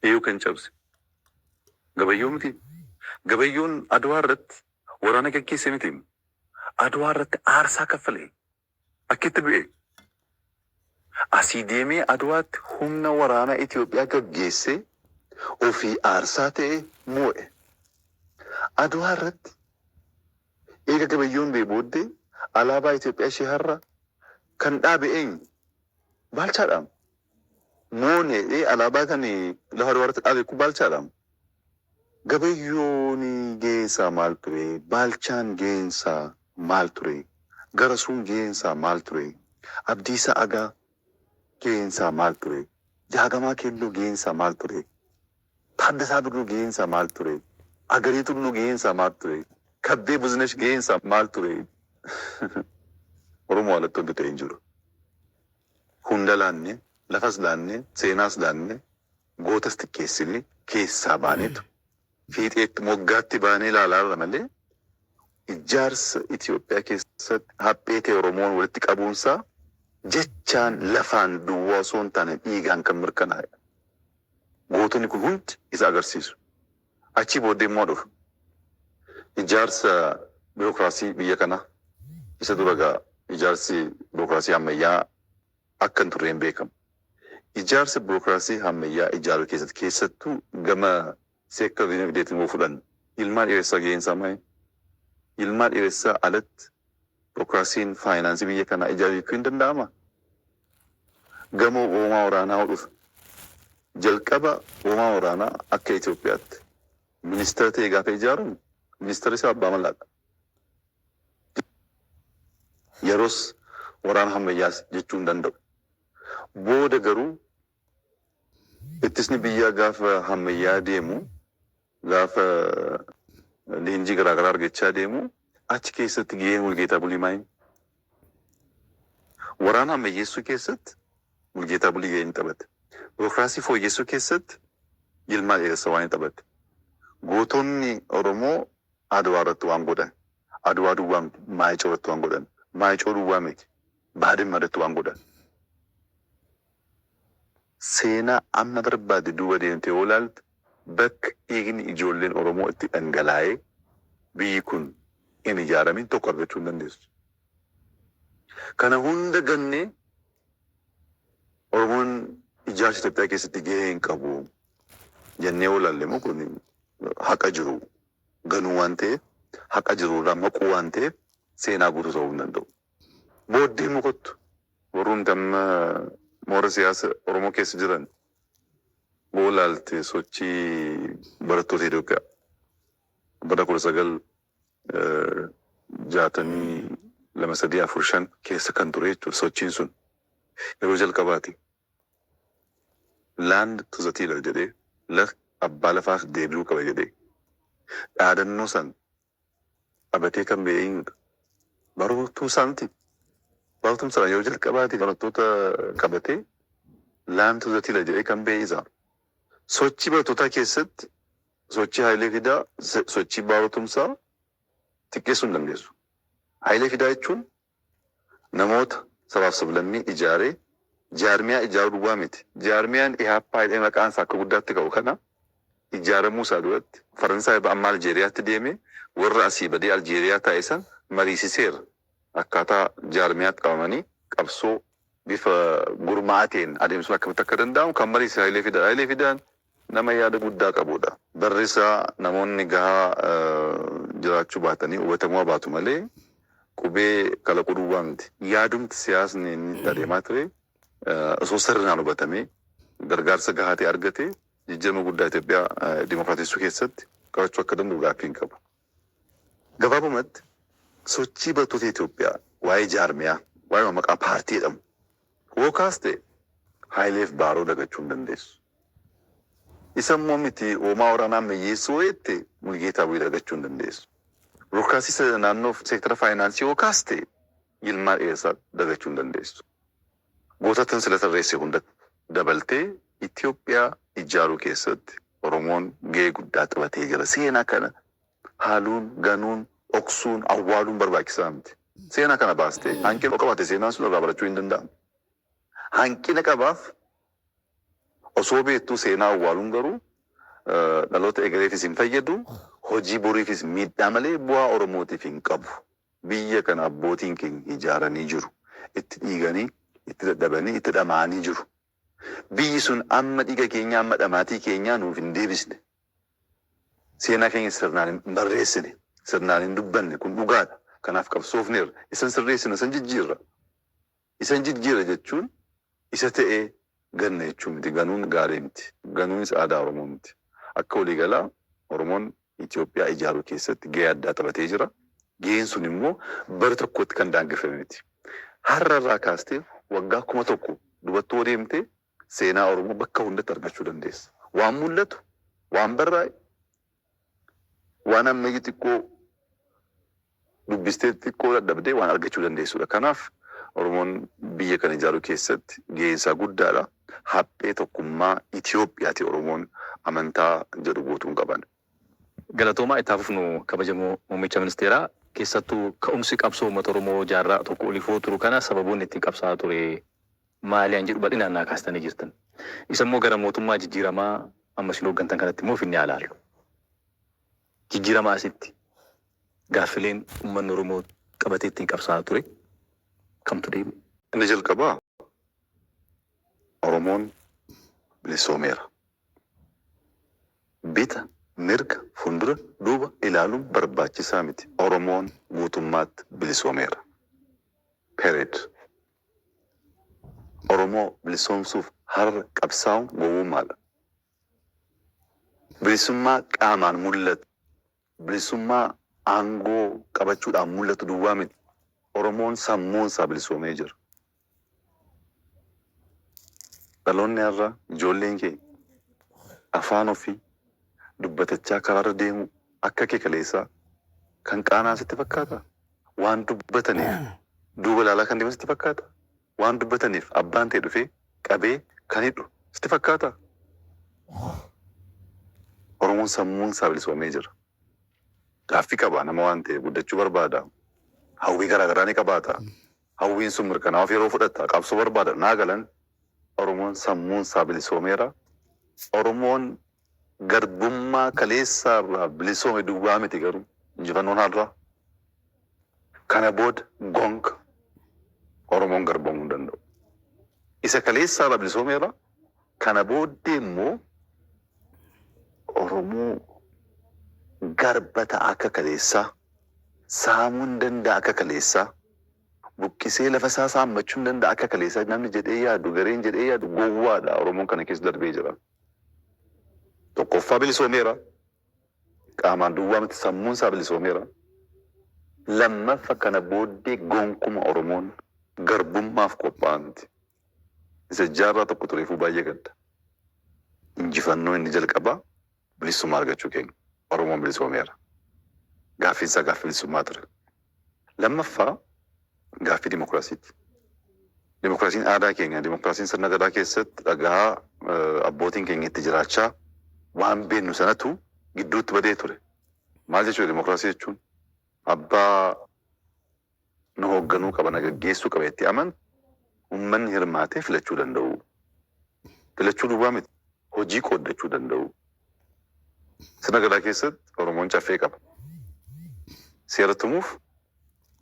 Eeyuu kan cabse Gabayyoo mitii? Gabayyoon Adwaa irratti waraana gaggeesse mitiim? Adwaa irratti aarsaa kaffalee? Akkitti du'ee? Asii deemee Adwaatti humna waraana Itoophiyaa gaggeessee ofii aarsaa ta'ee moo'e. Adwaa irratti eega Gabayyoon du'ee booddee alaabaa Itoophiyaa ishee har'aa kan dhaabe eenyu? Baalchaadhaam? Moone ee alaabaa kani lafa dubarti dhaabe kun baalchaadha mo gabayyooni gaheen isaa maal ture baalchaan gaheen isaa maal ture garasuun gaheen isaa maal ture abdiisaa agaa gaheen isaa maal ture jaagamaa keelloo gaheen isaa maal ture taaddasaa birruu gaheen isaa maal ture agarii tulluu gaheen isaa maal ture kabbee buzinesh gaheen isaa maal ture oromoo alattoon bitee hin jiru hunda laanne, lafas laanne, seenaas laanne, gootas xiqqeessine keessaa baaneetu fiixeetti, moggaatti baanee ilaalaarra malee ijaarsa Itoophiyaa keessatti haphee ta'e Oromoon walitti qabuunsaa jechaan, lafaan duwwaa osoo hin taane dhiigaan kan mirkanaa'edha. Gootonni kun hundi isa agarsiisu. Achii booddee immoo dhufu ijaarsa birookiraasii biyya kanaa isa dura egaa ijaarsi birookiraasii hammayyaa akka hin turreen beekamu. Ijaarsa birookiraasii hammayyaa ijaaruu keessatti keessattuu gama seektar dinagdeetiin yoo fudhanne Yilmaa Dheeressaa gaheen isaa maali? Yilmaa Dheeressaa alatti birookiraasiin faayinaansii biyya kanaa ijaaruu jechuun hin danda'amaa? Gamoo hoomaa waraanaa dhufe. Jalqaba hoomaa waraanaa akka Itoophiyaatti ministeera ta'ee gaafa ijaaramu ministeerri isaa Abbaa Malaadha. Yeroos waraana hammayyaas jechuu hin danda'u. Booda garuu Ittisni biyyaa gaafa hammayyaa'aa deemu, gaafa leenjii garaa garaa argachaa deemu, achi keessatti gaheen Mulgeetaa Bulii maayini? Waraana ammayyeessuu keessatti Mulgeetaa Bulii gahee inni taphate, birookiraasii fooyyessuu keessatti Yilmaa Dheeressa waan inni taphate, gootonni Oromoo Adwaa irratti waan godhan, Adwaa duwwaa miti, Maayicoo irratti waan godhan, Maayicoo duwwaa miti, Baadimma irratti waan godhan, Seenaa amma barbaadde duuba deemtee yoo ilaaltu bakka dhiigni ijoolleen Oromoo itti dhangalaa'ee biyyi kun hin ijaaramin tokko argachuu hin dandeessu. Kana hunda gannee Oromoon ijaarsa Itoophiyaa keessatti gahee hin qabu jennee yoo ilaalle immoo kun haqa jiru ganuu waan ta'eef, haqa jiru irraa maquu waan ta'eef seenaa guutuu ta'uu hin danda'u. Booddee immoo kottu warrumti amma moora siyaasa Oromoo keessa jiran boo laalte sochii barattoota Itoophiyaa bara 1962 3 4 5 keessa kan ture jechuudha sochiin sun yeroo jalqabaati land to the tiller jedhee laf abbaa lafaaf deebi'uu qaba jedhee dhaadannoo san qabatee kan ba'e eenyudha? Barotuu isaa miti. Barotuun sana yeroo jalqabaati barattoota qabatee laantu zatila jedhee kan ba'e isaa. Sochii barattootaa keessatti sochii Hayilee Fidaa sochii Baaroo Tumsaa xiqqeessuu hin dandeessu. Hayilee Fidaa jechuun Namoota, sabaaf sablammii ijaaree jaarmiyaa ijaaruu duwwaa miti. Jaarmiyaan Ihaappaa jedhamee maqaan isaa akka guddaatti ka'u kana ijaaramuu isaa duratti Faransaay irraa amma Aljeeriyaatti deemee warra asii badee Aljeeriyaa taa'e san mariisiseera. Akkaataa jaarmiyaatti qabamanii qabsoo bifa gurmaa'aa ta'een adeemsisuun akkamitti akka danda'amu kan mariisise Hayilee Fidaadha. Hayilee Fidaan Nama yaada guddaa qabuudha. Barri isaa namoonni gahaa jiraachuu baatanii hubatamuu habaatu malee qubee kalaquu duwwaa miti. Yaadumti siyaasni inni itti adeemaa ture osoo sirnaan hubatamee, gargaarsa gahaa ta'e argatee jijjiirama guddaa Itoophiyaa dimokraatessuu keessatti qabachuu akka danda'u gaaffii hin qabu. Gabaabumatti, sochii barattoota Itoophiyaa waa'ee jaarmiyaa, waa'eema maqaa paartii jedhamu woo kaaste Hayileef Baaroo dagachuu hin dandeessu. Isa immoo miti hoomaa waraanaa ammayyeessuu woo jette Mulgeetaa Buyi dagachuu hin dandeessu. Burokraasiisa naannoof seektara faayinaansii woo kaaste Yilmaa Dheeressaa dagachuu hin dandeessu. Gootattan sila tarreesse hunda dabaltee Itoophiyaa ijjaaruu keessatti Oromoon gahee guddaa taphatee jira. Seenaa kana haaluun, ganuun, dhoksuun, awwaaluun barbaachisaa miti. Seenaa kana baastee hanqina yoo qabaate seenaan sun irraa barachuu hin danda'amu. Hanqina qabaaf osoo beektuu seenaa awwaaluun garuu dhaloota egereefis hin fayyadu, hojii boriifis miidhaa malee bu'aa Oromootiif hin qabu. Biyya kana abbootiin keenya ijaaranii jiru. Itti dhiiganii, itti dadhabanii, itti dhama'anii jiru. Biyyi sun amma dhiiga keenyaa, amma dhamaatii keenyaa nuuf hin deebisne. Seenaa keenya sirnaan hin barreessine, sirnaan hin dubbanne. Kun dhugaadha. Kanaaf qabsoofneerra. Isan sirreessina, isan jijjiirra. Isan jijjiira jechuun isa ta'e ganna jechuu miti. Ganuun gaarii miti. Ganuunis aadaa Oromoo miti. Akka waliigalaa Oromoon Itoophiyaa ijaaruu keessatti gahee addaa taphatee jira. Gaheen sun immoo bara tokkotti kan daangeffame miti. Har'a irraa kaastee waggaa kuma tokko dubatt yoo deemte seenaa Oromoo bakka hundatti argachuu dandeessa. Waan mul'atu, waan barraa'e, Waan ammayyu xiqqoo dubbistee xiqqoo dadhabde waan argachuu dandeessudha. Kanaaf Oromoon biyya kana ijaaruu keessatti gaheen isaa guddaadha. Haphee tokkummaa Itoophiyaati Oromoon amantaa jedhu guutuun qaban. Galatoomaa itti haa fufnu kabajamoo muummicha ministeeraa keessattuu ka'umsi qabsoo uummata Oromoo jaarraa tokko oliifoo turu kana sababoonni ittiin qabsaa'aa ture, maali an jedhu bal'inaan naa kaastanii jirtan. Isa immoo gara mootummaa jijjiiramaa amma isin hooggantan kanatti immoo finnee haa ilaallu. Jijjiiramaa asitti gaaffileen ummanni Oromoo qabatee ittiin qabsaa'aa ture kamtu deebi'e? Inni jalqabaa Oromoon bilisoomeera. Bita, mirga, fuuldura, duuba ilaaluun barbaachisaa miti. Oromoon guutummaatti bilisoomeera. Period. Oromoo bilisoomsuuf har'a qabsaa'uun gowwummaadha. Bilisummaa qaamaan mul'atu, bilisummaa aangoo qabachuudhaan mul'atu duwwaa miti. Oromoon sammuun isaa bilisoomee jira. Dhaloonni har'aa, ijoolleen keenya afaan ofii dubbatachaa karaarra deemuu akka kee kaleessaa kan qaana'an sitti fakkaataa? waan dubbataniif duuba laalaa kan deeman sitti fakkaata? Waan dubbataniif abbaan tee dhufee qabee kan hidhu sitti fakkaata? Oromoon sammuun isaa bilisoomee jira. Gaaffii qaba nama waan ta'eef, guddachuu barbaada. Hawwii garaa garaa ni qabaata. Hawwiin sun mirkanaa'uuf yeroo fudhata. Qabsoo barbaada. Naa galan Oromoon sammuun isaa bilisoomeera. Oromoon Garbummaa kaleessaa irraa bilisoome duwwaa miti garuu injifannoon har'aa. Kana booda gonka Oromoon garboomuu hin danda'u. Isa kaleessaa irraa bilisoomeera, kana booddee immoo Oromoo garba ta'a akka kaleessaa, saamuu hin danda'a akka kaleessaa, buqqisee lafa isaa saammachuu hin danda'a akka kaleessaa namni jedhee yaadu, gareen jedhee yaadu gowwaadha. Oromoon kana keessa darbee jira. Tokkoffaa bilisoomeera. Qaamaan duwwaa miti sammuun isaa bilisoomeera. Lammaffa kana booddee gonkuma Oromoon garbummaaf qophaa'aa miti. Isa jaarraa tokko tureefuu baay'ee gadda. Injifannoo inni jalqabaa bilissumaa argachuu keenya. Oromoon bilisoomeera. Gaaffiin isaa gaaffii bilisummaa ture. Lammaffaa, gaaffii dimokiraasiiti. Dimokiraasiin aadaa keenya, dimokiraasiin sirna Gadaa keessatti dhagaa abbootiin keenya itti jiraachaa waan beennu sanatu gidduutti badee ture. Maal jechuudha dimokiraasii jechuun? Abbaa na hoogganuu qaba, na gaggeessuu qaba jettee amantu ummanni hirmaatee filachuu danda'uu. Filachuu duwwaa miti, hojii qooddachuu danda'uu. Sirna Gadaa keessatti Oromoon Caffee qaba. Seera tumuuf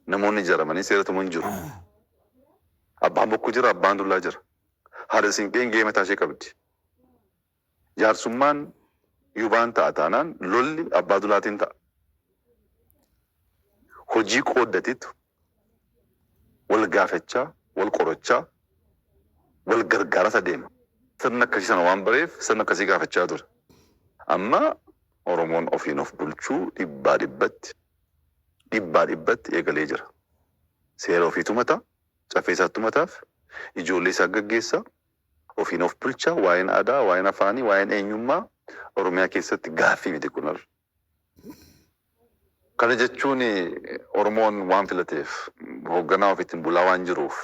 namoonni ijaaramanii seera tumu hin jiru. Abbaan Bokkuu jira, Abbaan Dullaa jira. Haadha Siinqeen gahee mataa ishee qabdi. Jaarsummaan yubaan ta'a taanaan lolli Abbaa Dulaatiin ta'a. Hojii qooddatiitu. wal gaafachaa, wal qorachaa, wal gargaaraas adeema. Sirna akkasii sana waan bareef sirna akkasii gaafachaa ture. Amma Oromoon ofiin of bulchuu dhibbaa dhibbatti, dhibbaa dhibbatti eegalee jira. Seera ofii tumata, caffee isaa tumataaf, ijoollee isaa gaggeessa, ofiin of bulcha, waa'een aadaa, waa'een afaanii, waa'een eenyummaa Oromiyaa keessatti gaaffii miti kun har'a. Kana jechuun Oromoon waan filateef, hoogganaa ofiitiin bulaa waan jiruuf,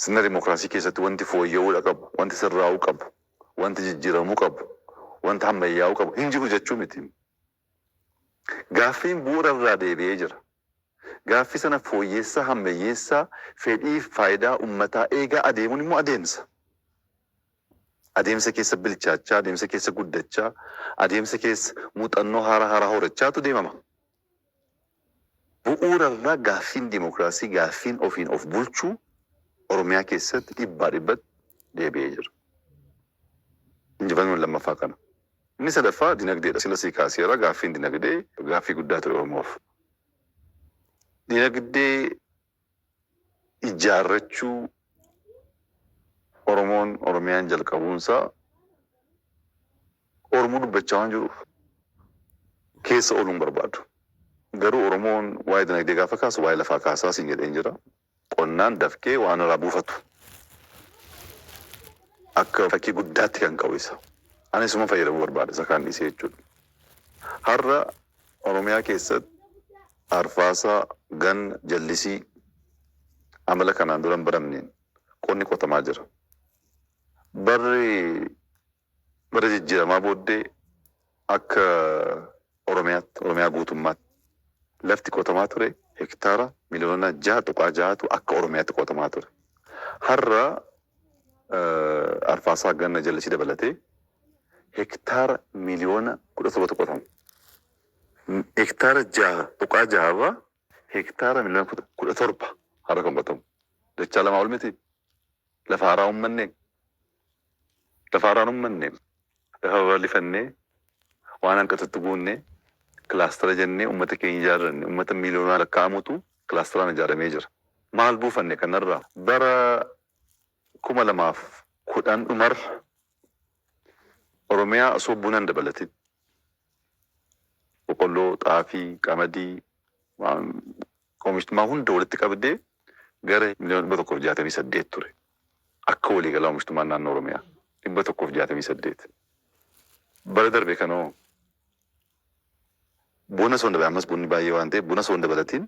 sirna dimokiraasii keessatti wanti fooyya'uudha qabu, wanti sirraa'uu qabu, wanti jijjiiramuu qabu, wanti hammayyaa'uu qabu hin jiru jechuu miti. Gaaffiin bu'uura irraa deebi'ee jira. Gaaffii sana fooyyeessaa, hammayyeessaa, fedhiif faayidaa ummataa eegaa adeemuun immoo adeemsa. Adeemsa keessa bilchaachaa, adeemsa keessa guddachaa, adeemsa keessa muuxannoo haaraa haaraa horachaatu deemama. Bu'uura irraa gaaffiin dimokiraasii, gaaffiin ofiin of bulchuu Oromiyaa keessatti dhibbaa dhibbatti deebi'ee jira. Injifannoon lammaffaa kana. Inni sadaffaa dinagdeedha. Sila sii kaaseera gaaffiin dinagdee gaaffii guddaa ture Oromoof. Dinagdee ijaarrachuu Oromoon, Oromiyaan jalqabuunsaa Oromoo dubbachaa waan jiruuf keessa ooluu hin barbaadu. Garuu Oromoon waa'ee dinagdee gaafa kaasu waa'ee lafaa kaasaa siin jedheen jira. Qonnaan dafqee waan irraa buufatu akka fakkii guddaatti kan qabu isa. Ani isuman fayyadamuu barbaada isa kaan dhiisee jechuudha. Har'a Oromiyaa keessatti Arfaasaa, Ganna, jallisii amala kanaan dura hin baramneen qonni qotamaa jira. Barri bara jijjiiramaa booddee akka Oromiyaatti, Oromiyaa guutummaatti lafti qotamaa ture hektaara miliyoona 6.6tu akka Oromiyaatti qotamaa ture. Har'a Arfaasaa, Ganna, jallisii dabalatee hektaara miliyoona 17tu qotama. hektaara 6.6 irraa hektaara miliyoona 17 har'a kan qotamu. Dachaa lamaa ol mitii? Lafa haaraa hin ummannee? Lafa haaraa hin ummanne. Lafa babal'ifannee, waan hanqatutti guunnee, kilaastara jennee ummata keenya ijaarranne. Ummata miliyoonaan lakkaa'amutu kilaastaraan ijaaramee jira. Maal buufanne kanarraa? Bara 2010 dhumarra Oromiyaa osoo buna hin dabalatin boqolloo, xaafii, qamadii waan oomishtumaa hunda walitti qabdee gara miliyoona 168 ture. Akka waliigalaa oomishtumaan naannoo Oromiyaa 168. Bara darbe kana hoo? Buna osoo hin dabalatin, ammas bunni baay'ee waan ta'eef buna osoo hin dabalatin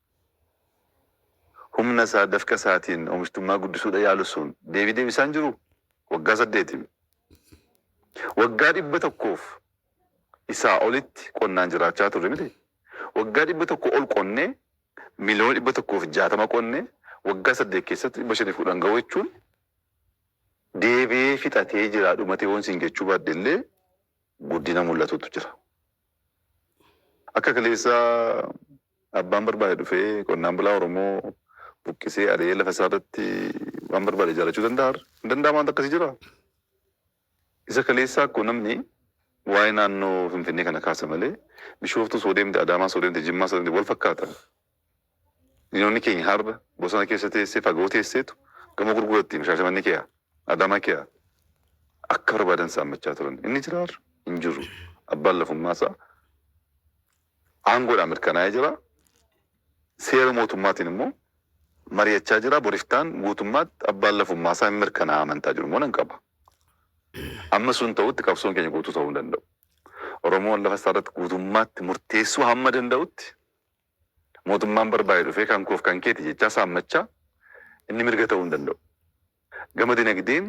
Humna isaa, dafqa isaatiin oomishtummaa guddisuudha yaalu sun deebii deebisaa hin jiruu? Waggaa saddeetiin. Waggaa dhibba tokkoof isaa olitti qonnaan jiraachaa turre mitii? Waggaa dhibba tokko ol qonnee miliyoona dhibba tokkoo fi jaatama qonnee waggaa saddeet keessatti dhibba shanii fi kudhan gahuu jechuun deebi'ee fixatee jira dhumatee yoon siin jechuu baadhe illee guddina mul'atutu jira. Akka kaleessaa Abbaan barbaade dhufee qonnaan bulaa Oromoo buqqisee, ari'ee lafa isaa irratti waan barbaade ijaarrachuu danda'a har'a? Hin danda'amu waanti akkasii jiraa? Isa kaleessaa akkuma namni waa'ee naannoo Finfinnee kana kaasa malee Bishooftuus hoo deemte, Adaamaas hoo deemte, Jimmaas hoo deemte wal fakkaatan. Diinonni keenya har'a bosona keessa teessee, fagoo teesseetu gamoo gurgurattiim Shaashamannee keeyaa, Adaamaa keeyaa akka barbaadan saammachaa turan. Inni jiraa har'a? Hin jiru. Abbaan lafummaa isaa. aangoodhaan mirkanaa'ee jira. Seera mootummaatiin immoo mari'achaa jira. Bor iftaan guutummaatti abbaan lafummaasaa hin mirkanaa'a amantaa jiru immoo nan qaba. Amma sun ta'utti qabsoon keenya guutuu ta'uu hin danda'u. Oromoon lafa isaa irratti guutummaatti murteessuu hamma danda'utti mootummaan barbaade dhufee kan koof kan keeti jechaa saammachaa inni mirga ta'uu hin danda'u. Gama dinagdeen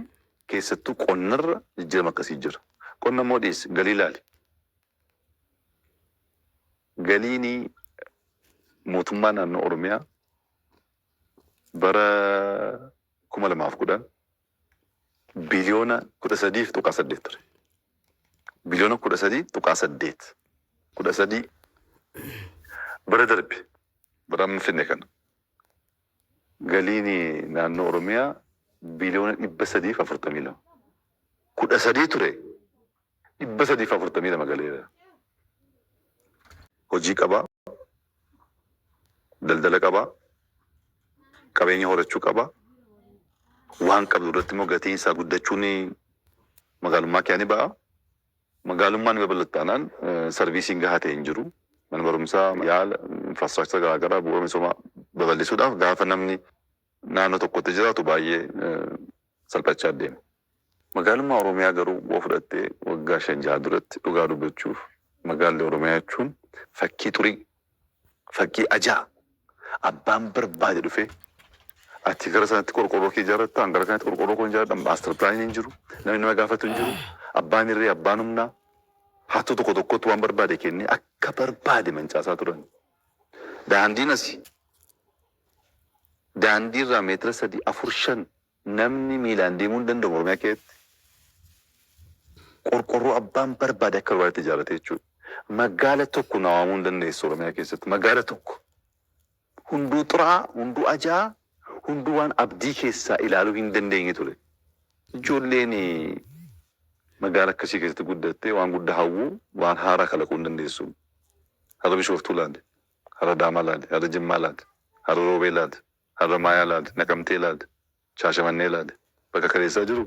keessattuu qonnarra jijjiirama akkasii jira. Qonna immoo dhiisi, galii ilaali. Galiini mootummaa naannoo Oromiyaa bara 2010 biliyoona 13.8 ture. Biliyoona 13.8 13 bara darbe bara amma finne kana Galiin naannoo Oromiyaa biliyoona 342. 13 ture 342 galeera. Hojii qaba, daldala qaba, qabeenya horachuu qaba. Waan qabdu irratti immoo gatiin isaa guddachuun magaalummaa kiyaa ni ba'a. Magaalummaan ni babal'atti taanaan sarviisiin gahaa ta'e hin jiru. Mana barumsaa, yaala, infraastiraakchara garaa garaa, bu'uura misoomaa babal'isuudhaaf gaafa namni naannoo tokkotti jiraatu baay'ee salphachaa deema. Magaalummaa Oromiyaa garuu yoo fudhatte waggaa shan jaha duratti dhugaa dubbachuuf magaalli Oromiyaa jechuun fakkii xurii, Fakkii ajaa! Abbaan barbaade dhufee ati gara sanatti qorqoorroo kee ijaarratta, an gara kanatti qorqoorroo koon ijaarradha, master plan hin jiru, namni nama gaafatu hin jiru, abbaan irree, abbaan humnaa hattuu tokko tokkootti waan barbaade kennee akka barbaade mancaasaa turan. Daandiin asi daandii irraa meetira sadii, afur, shan Namni miilaan deemuu hin danda'u Oromiyaa keessatti. Qorqorroo abbaan barbaade akka barbaadetti ijaarrate jechuudha. Maggaala tokko naa waamuu hin dandeessu Oromiyaa keessatti. Maggaala tokko. Hunduu xuraa'aa, hunduu ajaa'aa, hunduu waan abdii keessaa ilaaluu hin dandeenye ture. Ijoolleen magaala akkasii keessatti guddatte waan guddaa hawwuu, waan haaraa kalaquu hin dandeessu. Har'a Bishooftuu ilaali, har'a Adaamaa ilaali, har'a Jimmaa ilaali, har'a Roobee ilaali, Harramaayaa laali, Naqamtee laali, Shaashamannee laali, bakka kaleessaa jiru?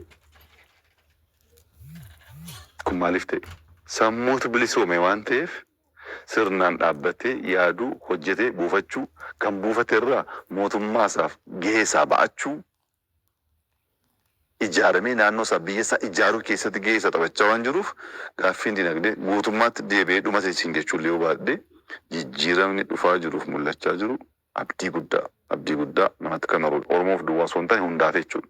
Kun maaliif ta'e? Sammuutu bilisoome waan ta'eef sirnaan dhaabbatee yaaduu, hojjetee buufachuu, kan buufate irraa mootummaa isaaf gahee isaa ba'achuu, ijaaramee naannoo isaa, biyya isaa ijaaruu keessatti gahee isaa taphachaa waan jiruuf gaaffiin dinagdee guutummaatti deebi'ee dhuma seesiin jechuu illee yoo baadhee jijjiiramni dhufaa jiruuf mul'achaa jiru Abdii guddaa. Abdii guddaa. Namatti kan horudha. Oromoof duwwaa osoo hin taane hundaaf jechuudha.